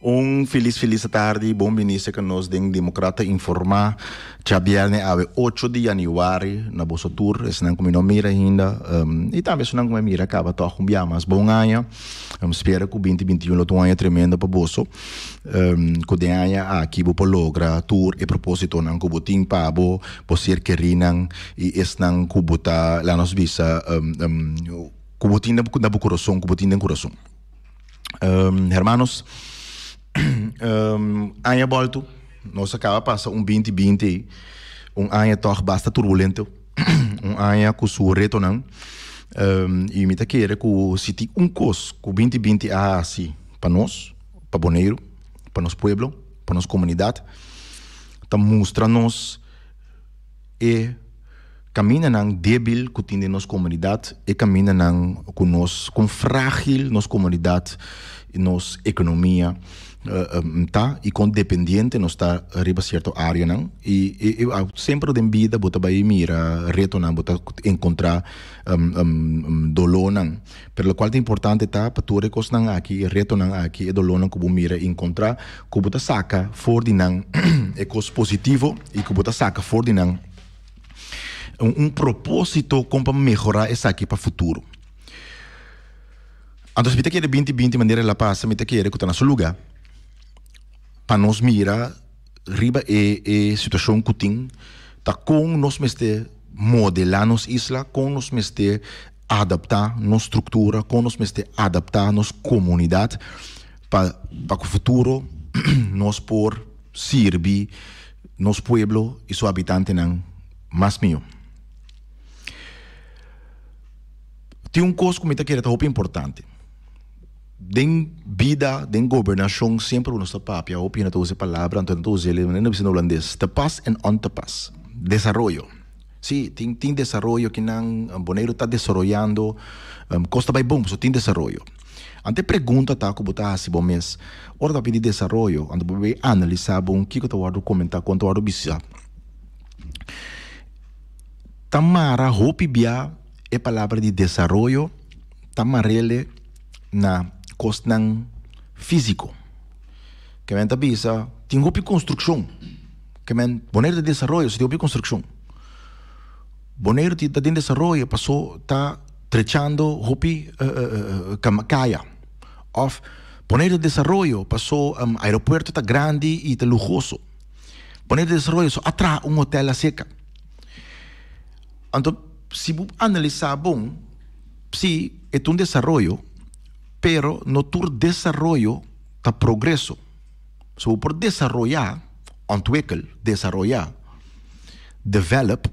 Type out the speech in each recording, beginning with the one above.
Un filis filis ta tardi y bon bini sek nos den Democrata Informa. Djabielne awe ocho di januari na boso tur. Esnan ku mi no mira hinda. Um, y tambe esnan ku mi mira kaba toch un biaha mas bon aña. Um, spera ku binti binti un lo ta un aña tremendo pa boso. Ku den aña aki bo por logra tur e propósitonan ku bo tin pa bo bo ser kerinan i esnan ku bo ta laga nos bisa ku bo tin na bo kurason ku bo tin den kurason hermanos aña bolto nos a kaba pasa un binti binti un aña tog basta turbulento. un aña ku su retonan i mi ta kere ku si tin un kos ku binti binti a hasi pa nos pa Boneiru pa nos pueblo pa nos komunidat ta mustra nos e kamindanan debil ku tin den nos komunidat e kamindanan ku nos kon fragil nos komunidat nos ekonomia. ta y con dependiente nos ta riba cierto areanan y siempre den bida bo ta bay mira retonan bo ta encontra dolornan pero lo cual ta importante ta pa tur e cosnan aki e retonan aki e dolornan cu bo mira y encontra cu bo ta saca for di nan e cos positivo y cu bo ta saca for di nan un proposito con pa mehora esaki pa futuro. Anto si mi ta kere binti binti manera el a pasa mi ta kere ku ta na su luga pa nos mira riba e e situashon ku tin ta kon nos mester modelá nos isla kon nos mester adaptá nos struktura kon nos mester adaptá nos komunidat pa pa ku futuro nos por sirbi nos pueblo i su habitantenan mas mihó. Tin un kos ku mi ta kere ta hopi importante. Den bida, den gobernashon semper bo nos ta papia hopi no ta usa e palabra anto no ta usa el e no bisa den holandes te pas en on te pas. Desaroyo. Si, tin tin desaroyo kinan Boneiru ta desaroyando kos ta bai bon pasobra tin desaroyo. Anto e pregunta ta ku bo ta hasi bo mes ora ta papia di desaroyo anto bo bai analisa bo kiko ta wòrdu komentá kon ta wòrdu bisá ta mara hopi bia. E palabra di desaroyo ta marele na kosnan físiko. Ke men ta bisa, tin hopi konstrukshon ke men, Boneiru ta desaroyo pasobra tin hopi konstrukshon. Boneiru ta den desaroyo paso ta trechando hopi kaya. Òf, Boneiru ta desaroyo paso aeropuerto ta grandi i ta luhoso. Boneiru ta desaroyo paso a traha un hotèl laseka. Anto si bu analisá bon, sí, e ta un desaroyo, pero no tur desaroyo ta progreso. So bo por desaroyá, ontwikkel, desaroyá, develop,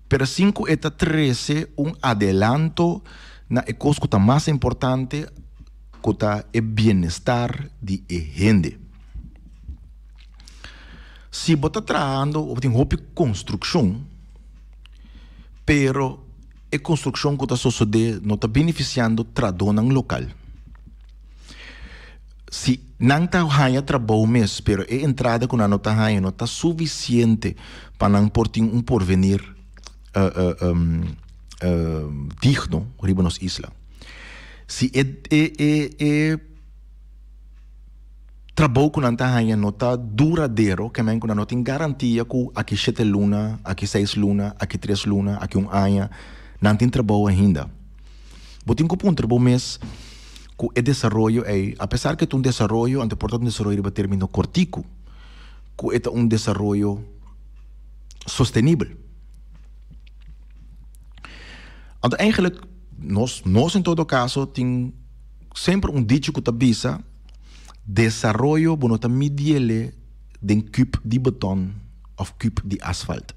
pero sin ku e ta trese un adelanto na e kos ku ta mas importante, ku ta e bienestar di e hende. Si bo ta trahando, bo tin hopi konstrukshon. Pero e construccion cu ta sosode no ta beneficiando tradonan local. Si nan ta haya trabou mes pero e entrada cu nan no ta haya no ta suficiente pa nan por tin un porvenir digno riba nos isla. Si e. Trabou ku nan ta haña no ta duradero, ke men ku nan no tin garantia ku aki shete luna, aki seis luna, aki tres luna, aki un aña, nan tin trabou ainda. Bo tin ku puntra bo mes ku e desaroyo ei, apesar ku e ta un desaroyo, ante por ta un desaroyo riba término kortiku, ku e ta un desaroyo sostenibel. Anto, eingelik, nos, nos en todo kaso tin semper un dichi ku ta bisa. Desaroyo bo no ta midiele den kub di beton of kub di asfalt.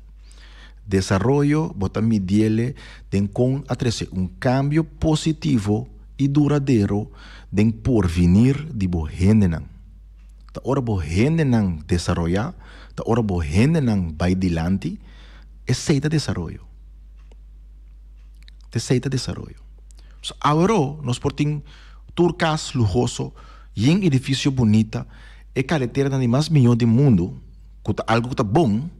Desaroyo bo ta midiele den kon a trese un kambio positivo i duradero den porvinir di bo hendenan. Ta ora bo hendenan desaroyá, ta ora bo hendenan bai dilanti, esei ta desaroyo. Esei ta desaroyo. So awero nos por tin tur cas luhoso yen edificio bunita e careteranan di mas miho di mundo cu ta algo cu ta bon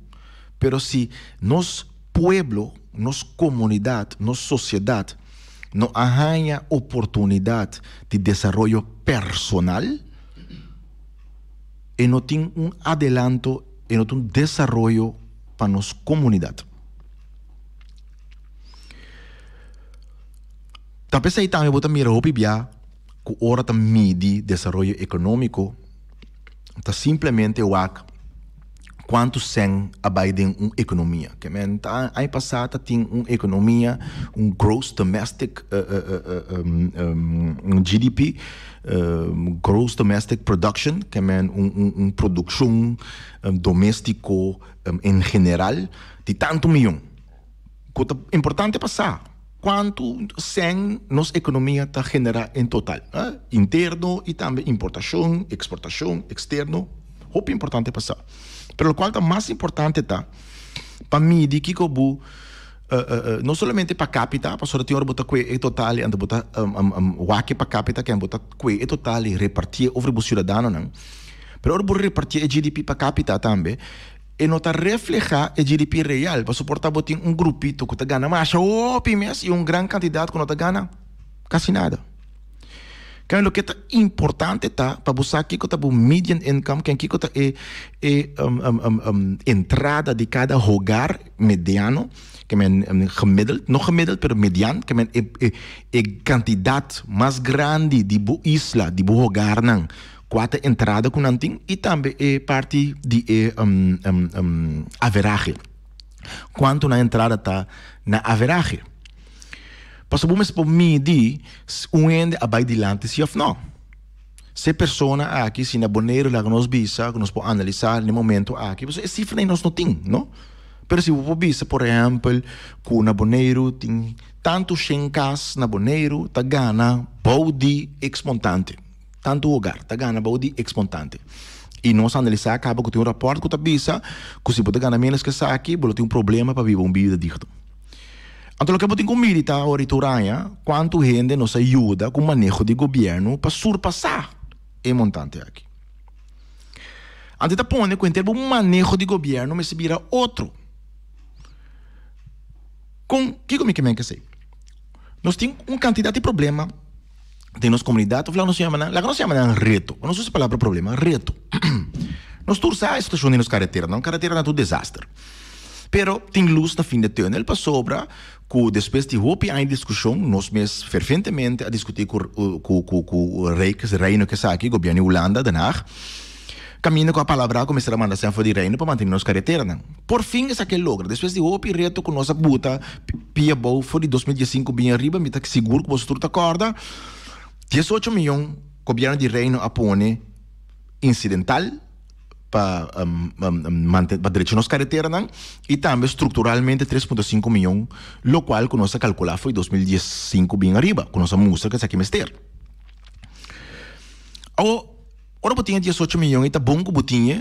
pero si nos pueblo nos comunidad nos sociedad no a haya oportunidad di desaroyo personal e no tin un adelanto e no tin desaroyo pa nos comunidad. Ta p'esei tambe bo ta mira hopi bia ku ora ta midi desaroyo ekonómiko ta simplemente wak kuantu sèn a bai den un ekonomia. Ke men ta aña pasá ta tin un ekonomia, un gross domestic GDP, gross domestic production, ke men un produkshon doméstiko en general di tantu miyon. Cu ta importante pa sa? Cuantu cen nos economia ta genera en total, interno y tambe importacion, exportacion, externo, hopi importante pa sa. Pero locual ta mas importante ta pa midi kico bo, no solamente pa capita, pasobra tin ora bo ta cue e total y anto bo ta wak e pa capita ken bo ta cue e total y reparti e over bo ciudadanonan. Pero ora bo reparti e GDP pa capita tambe, E no ta reflehá e GDP real, pasobra por ta bo tin un grupito ku ta gana masha hopi mes i un gran kantidat ku no ta gana kasi nada. Kamba loke ta importante ta pa bo sa kiko ta bo median income, ken kiko ta e e entrada di kada hogar mediano, ke men gemiddeld, no gemiddeld pero median, ke men e e kantidat mas grandi di bo isla, di bo hogarnan. Kua ta e entrada ku nan tin i tambe e parti di e averahe. Kuantu nan entrada ta na averahe. Pasobra bo mester por midi si un hende a bai dilanti si òf nò. Si e persona aki si na Boneiru laga nos bisa ku nos por analisá den e momentu aki pasobra e sifranan nos no tin, no? Pero si bo por bisa por ehèmpel ku na Boneiru tin tantu shen kas na Boneiru ta gana bou di eks montante. Tantu hogar ta gana bou di exmontante y nos analisá caba cu tin un rapport cu ta bisa cu si bo ta gana menos cu esaki bo lo tin un problema pa biba un bida digno. Anto loke bo tin cu miri ta ora y ta uraña cuantu hende nos a yuda cu maneho di gobierno pa surpasá e montante aki. Anto e ta pone cu henter bo maneho di gobierno mester bira otro. Con kico mi ke menke esey? Nos tin un cantidad di problema. den nos comunidad of laga nos llama nan, laga nos llama nan reto, nos usa palabra problema, reto. nos tur sa e situacion di nos carretera, nos carretera ta tur desaster. Pero tin luz na fin de tunnel pasobra cu despues di hopi aña di discusion nos mes ferventemente a discuti cu cu cu cu rey cu reino cu esaki, gobierno di Hulanda, Den Haag, Kaminda ku a palabrá ku mester a manda sèn for di Reino pa mantene nos kareteranan. Porfin esaki a logra! Despues di hopi reto ku nos a buta pia abou for di dos mil dies sinku bin ariba, mi ta sigur ku bosotrus ta kòrda dies ocho mion Gobièrnu di Reino a pone insidental pa pa drecha nos kareteranan i tambe strukturalmente tres punto sinku mion lokual ku nos a kalkulá for di dos mil dies sinku bin ariba ku nos a mustra ku esaki mester. Awo. Ora bo tin e diesocho mion ei ta bon ku bo tin e,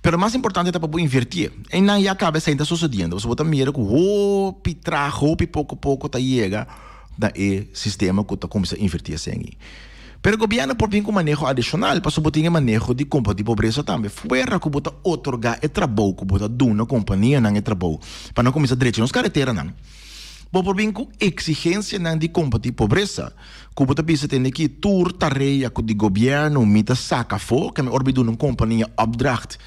pero mas importante ta pa bo invertí e. Einan ya kaba esei ta sosodiendo pasobra bo ta mira ku hopi traha, hopi poko poko ta yega na e sistema ku ta kuminsá invertí esei. Pero gobièrnu por bin ku maneho adishonal pasobra bo tin e maneho di kombatí pobresa tambe fuera ku bo ta otorgá e trabou ku bo ta duna kompanianan e trabou pa nan kuminsá drecha nos kareteranan. Bo por bin ku eksigensianan di kombatí pobresa. Ku bo ta bisa te ne ki tur tarea ku di gobièrnu mi ta saka afó, ke mi orbiduna un kompania opdracht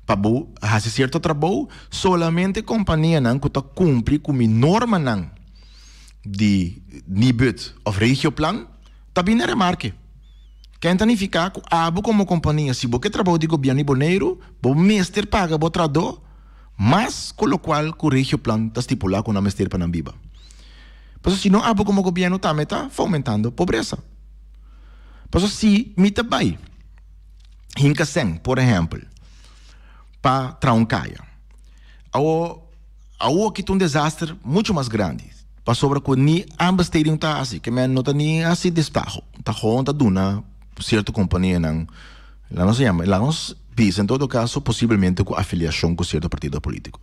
pa bo hasi sierto trabou, solamente kompanianan ku ta kumpli ku mi normanan di Nibud òf Regioplan ta bini remarke. Ken ta nifiká ku abo komo kompania si bo ke trabou di gobièrnu di Boneiru bo mester paga bo traadó mas ku lokual ku Regioplan ta stipulá ku nan mester pa nan biba. Paso si no abo como gobierno ta me ta fomentando pobreza. Paso si mi ta bay hinca sèn por ehempel pa traha un caya awo awo aki ta un desaster mucho mas grandi pasobra cu ni aanbesteding ta haci ke men no ta ni haci destaho ta gewoon ta duna cierto companianan laat nos yama laat nos bisa en todo caso posiblemente cu afiliacion cu cierto partido politico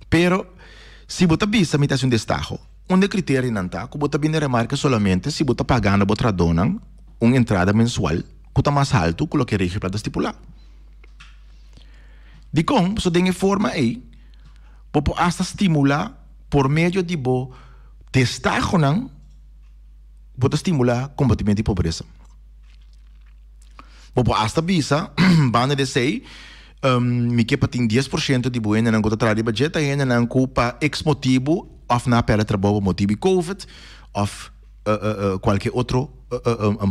pero. Si bo ta bisa mi ta hasi un destaho. Un de kriterionan ta ku bo ta bini remarka solamente si bo ta pagando bo tradonan un entrada mensual ku ta mas haltu ku loke e regipla ta stipulá. Dikon? Pasobra den e forma ei bo por asta stimulá por medio di bo destahonan bo ta stimulá kombatimento di pobresa. Bo por asta bisa banda di esei. Mi ke pa tin dies por shento di bo hendenan ku ta traha riba dje ta hendenan ku pa eks motibu òf nan a pèrdè trabou pa motibu di covid òf kualke otro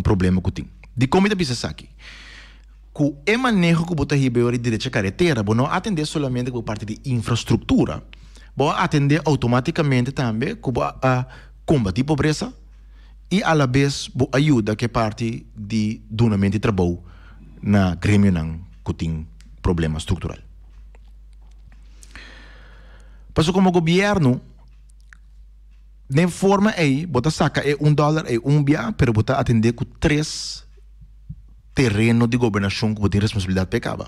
problema ku tin. Dikon mi ta bisa esaki? Ku e maneho ku bo ta hib'e ora di derecha karetera bo no a atendé solamente ku bo parti di infrastruktura, bo a atendé outomatikamente tambe ku bo a kombatí pobresa, i alabes bo a yuda ku e parti di dunamentu di trabou na gremionan ku tin problema struktural. Pasobra komo gobièrnu den forma ei bo ta saka e un dòler ei un bia pero bo ta atendé ku tres. tereno di gobernashon ku bo tin responsabilidat pa e kaba.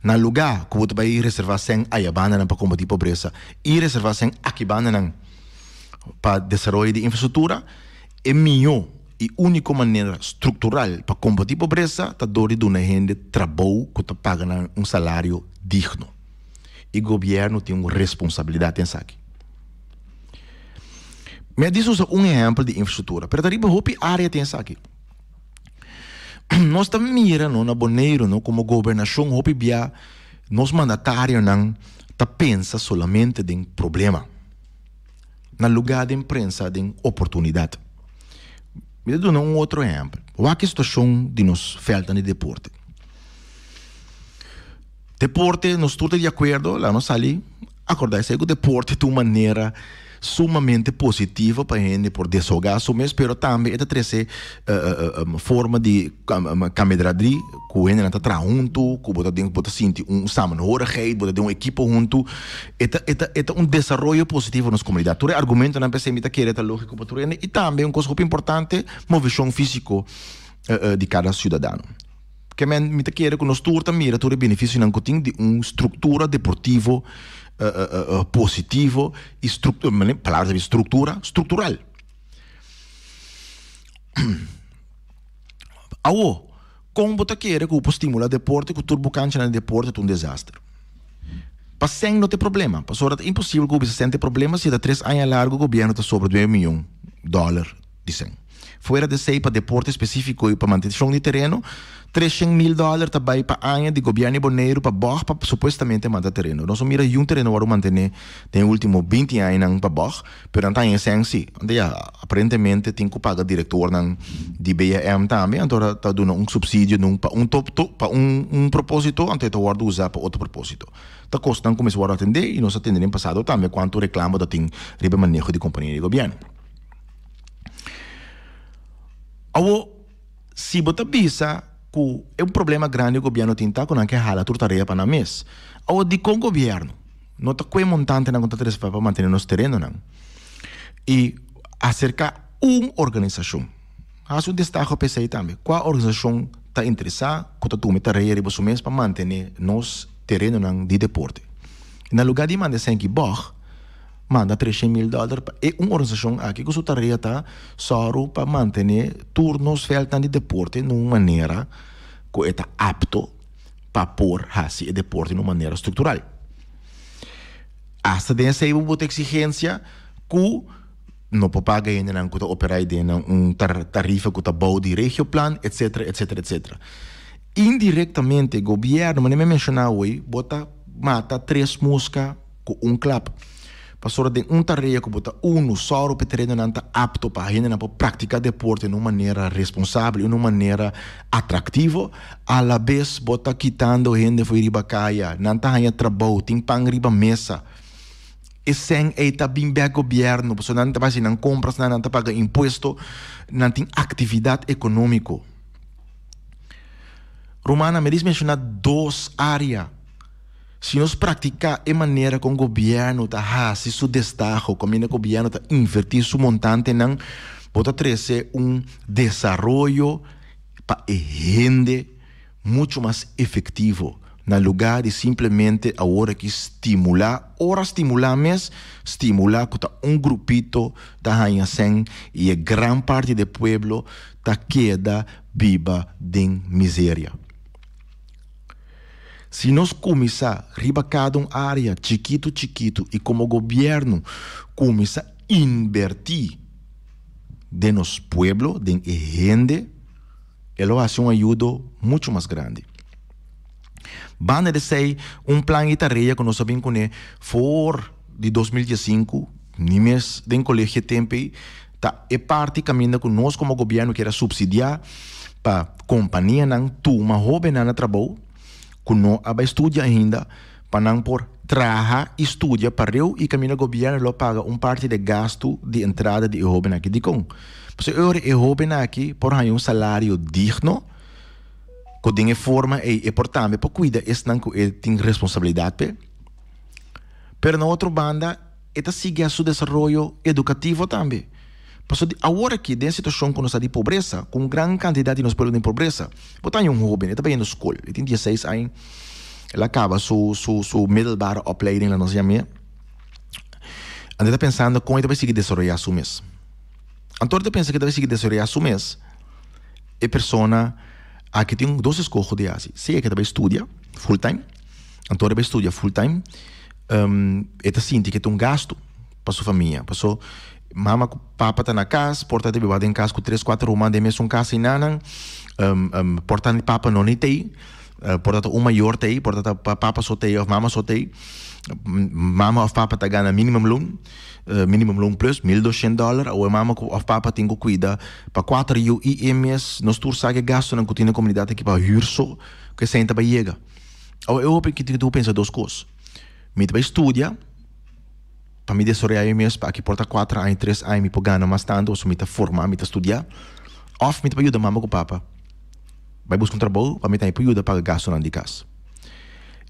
Na lugá ku bo ta bai reservá sèn ayabandanan pa kombatí pobresa i reservá sèn akibandanan pa desaroyo di infrastruktura, e mihó i úniko manera struktural pa kombatí pobresa ta dor di duna e hende trabou ku ta paga nan un salario digno. E gobièrnu tin un responsabilidat den esaki. Mi a disusa un ehèmpel di infrastruktura, pero ta riba hopi área tin esaki. nos ta mira no na Boneiru no como gobernacion hopi bia nos mandatarionan ta pensa solamente den problema na lugar den prensa den oportunidad. Mi ta duna un otro ehempel. Wak e situacion di nos velta di deporte. Deporte, nos tur ta di akuerdo, laga nos sali akordá esei ku deporte ta un manera sumamente positivo pa hende por desahogá su mes, pero tambe e ta trese forma di kameradri ku hendenan ta traha huntu, ku bo ta den bo ta sinti un samenhorigheid, bo ta den un ekipo huntu, e ta e ta e ta un desaroyo positivo pa nos komunidat. Tur e argumentonan p'esei mi ta kere ta lógiko pa tur hende i tambe un kos hopi importante, movishon físiko di kada siudadano. Ke men mi ta kere ku nos tur ta mira tur e benefisionan ku tin di un struktura deportivo positivo i palabra ta bin struktura struktural. Awo kon bo ta kere ku bo por stimula deporte ku tur bo kanchanan di deporte ta un desaster? Pa sèn no ta e problema pasobra ta imposibel ku bo bisa sèn ta e problema si ta tres aña largu gobierno ta sobra dueño mion dòler. dicen. Fuera di esey pa deporte específico y pa mantencion di tereno, treshen mil dollar ta bay pa aña di gobierno di Boneiru pa bog pa supuestamente manta tereno. Nos no mira yu un tereno wor a mantene den e ultimo binti añanan pa bog, pero nan ta haña esenci. Anto ya, aparentemente tin cu paga directornan di BAM tambe, anto ora ta duna un subsidio nun pa un pa un proposito, anto e ta worde uza pa otro proposito. Ta cos nan cu mester worde atende y nos a tende den pasado tambe cuanto reclamo ta tin riba e maneho di compania di gobierno. Awor, si bo ta bisa ku e un problema grandi gobièrnu tin ta ku nan ke hala tur tarea pa nan mes. Awor, dikon gobièrnu no ta kue montantenan ku ta trespa pa mantene nos terenonan i aserká un organisashon? Hasi un destaho p'esei tambe. Kua organisashon ta interesá ku ta tuma e tarea riba su mes pa mantene nos terenonan di deporte? Na lugá di manda esei aki bòg, manda treshe mil dòler pa e un organisashon aki ku su tarea ta sòru pa mantené tur nos vèltnan di deporte na un manera ku e ta apto pa por hasi e deporte na un manera struktural. Asta den esei bo por ta eksigensia ku no por paga hendenan ku ta operá ei den nan un tarifa ku ta bou di Regioplan etsetera etsetera etsetera. Indirektamente gobièrnu manera mi a menshoná awei bo ta mata tres muska. cu un klap. Pasobra den un tarea cu bo ta unu, solo pa e tereñonan ta apto pa hendenan por practica deporte na un manera responsabel y na un manera atractivo. Alabes bo ta kitando hende fo'i riba caya, nan ta haña trabou, tin pan riba mesa. E cen ei ta bin bek gobierno, pasobra nan ta bay haci nan comprasnan, nan ta paga impuesto, nan tin actividad economico. Rumannan, mi a diz menciona dos area. Si nos praktiká e manera kon gobièrnu ta hasi su destaho, kaminda gobièrnu ta invertí su montantenan, bo ta trese un desaroyo pa e hende muchu mas efektivo, na lugá di simplemente awor aki stimulá, ora stimulá mes, stimulá ku ta un grupito ta haña sèn i e gran parti di e pueblo ta keda biba den miseria. Si nos kuminsá riba kada un área chikitu chikitu i komo gobièrnu kuminsá inbertí den nos pueblo, den e hende, e lo hasi un ayudo muchu mas grandi. Banda di esei, un plan di tarea ku nos a bin kuné for di dos mil dies sinku, nimes den Kolegio Tempe, Ta e parti caminda cu nos como gobierno kier a subsidia pa companianan tuma hobennan na trabou cu no a bay studia ainda pa nan por traha y studia pareu y caminda gobierno lo paga un parti di e gasto di entrada di e hoben aki. Dicon? Pasobra e ora e hoben aki por haya un salario digno cu den e forma ey e por tambe por cuida esnan cu e tin responsabilidad p'e. Pero na otro banda. E ta siguiá su desaroyo edukativo tambe. Paso di aworakí, den situashon ku nos ta di pobresa, ku un gran kantidat di nos pueblo den pobresa, bo ta haña un hóben, e ta bini skol, e tin dieseis aña, el a kaba su su su middelbare opleiding, laat nos yam'é, anto e ta pensando kon e ta por sigui desaroyá su mes. Anto e ta pensa ku e ta por sigui desaroyá su mes, e persona aki tin dos eskoho di hasi, sea ku e ta bai studia, full time. Anto riba e studia full time, e ta sinti ke ta un gastu pa su famia. Paso mama ku papa ta na kas, por ta debe wak den kas ku tres, kuater ruman den mesun kas ei nanan. por ta ni papa no ni tei, por ta ta un mayor tei, por ta ta papa so tei of mama so tei. Mama of papa ta gana minimum loon, minimum loon plus, mil dushent dollar. Awe mama ku of papa tin ku kuida pa kuater yu i e mes. Nos tur sa ke gastunan ku tin den komunidat aki pa hür so, ku esei ta bai yega. Awa e hopi tin ku pensa dos kos, mi ta bai studia pa mi desaroyá mi mes pa aki por ta kuater aña tres aña mi por gana mas tantu pasobra mi ta forma mi ta studia òf mi ta bai yuda mama ku papa bai buska un trabou pa mi tambe por yuda paga gastunan di kas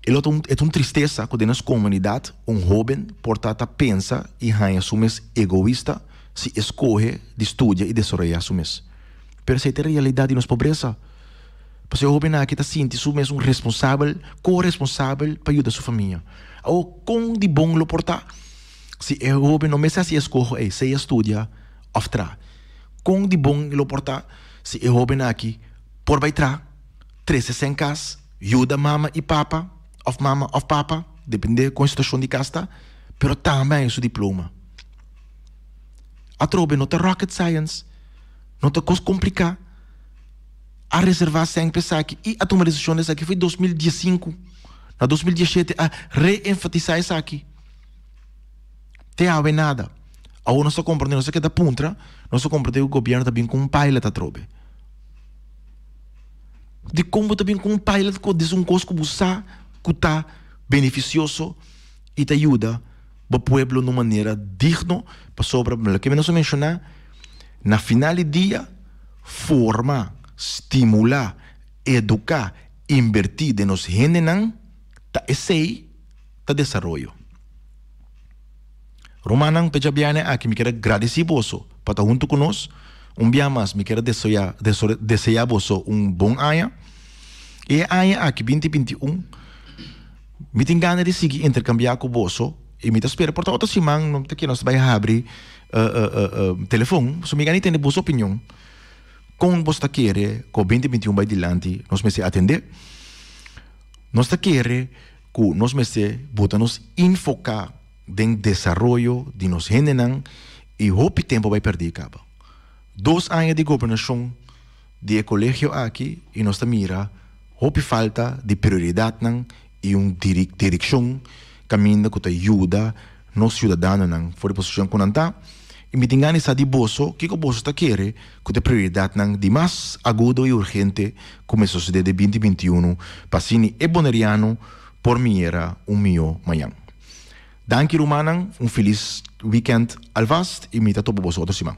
e lo e ta un tristesa ku den nos komunidat un hoben por ta ta pensa i haña su mes egoista si e skohe di studia i desaroyá su mes pero esei ta e realidat di nos pobresa. Pasobra e hóbennan aki ta sinti su mes un responsabel, ko-responsabel pa yuda su famia. Awor, kon di bon lo por ta si e hóben no mester hasi eskoho ei, sea studia òf tra? Kon di bon lo por ta si e hóbennan aki por bai tra, trese sen kas, yuda mama i papa òf mama òf papa, depende kon e situashon di kas ta, pero tambe a haña su diploma? Atrobe no ta rocket science, no ta kos kompliká. a reserva sènp esaki i a tuma desishon di esaki foi dos mil dies sinku. Na dos mil dies shete a re-enfatisa esaki. Te awe nada. Awor nos ta komprende, nos ta keda puntra, nos ta komprende ku gobièrnu ta bin ku un pailat atrobe. Dikon bo ta bin ku un pailat ku a dis'un kos ku bo sa ku ta benefisioso i ta yuda? bo pueblo na un manera digno, pasobra loke mi nos a menshoná, na final di dia forma, stimulá, eduká, inbertí den nos hendenan ta esei ta desaroyo. Rumannan p'e djabianen aki mi kier a gradisí boso pa ta huntu ku nos, un bia mas mi kier a desoyá deseá boso un bon aña, i e aña aki binti binti un. Mi tin gana di sigui interkambiá ku boso i mi ta spera por ta otro siman no ta ke nos bai habri telefon. So mi gana di tende boso opinion. Kon boso ta kere ku binti binti un bai dilanti nos mester atendé? Nos ta kere ku nos mester bota nos infoká den desaroyo di nos hendenan i hopi tempu a bai pèrdí i kaba. Dos aña di gobernashon. di e colegio aki y nos ta mira hopi falta di prioridadnan y un diriccion caminda cu ta yuda nos ciudadanonan for di posicion cu nan ta y mi tin gana sa di boso kico boso ta kere cu ta e prioridadnan di mas agudo y urgente cu mester sucede den binti binti i unu pa asina e boneriano por miera un miyo mañan. Danki rumannan un filis weekend alvast y mi ta topa boso otro siman.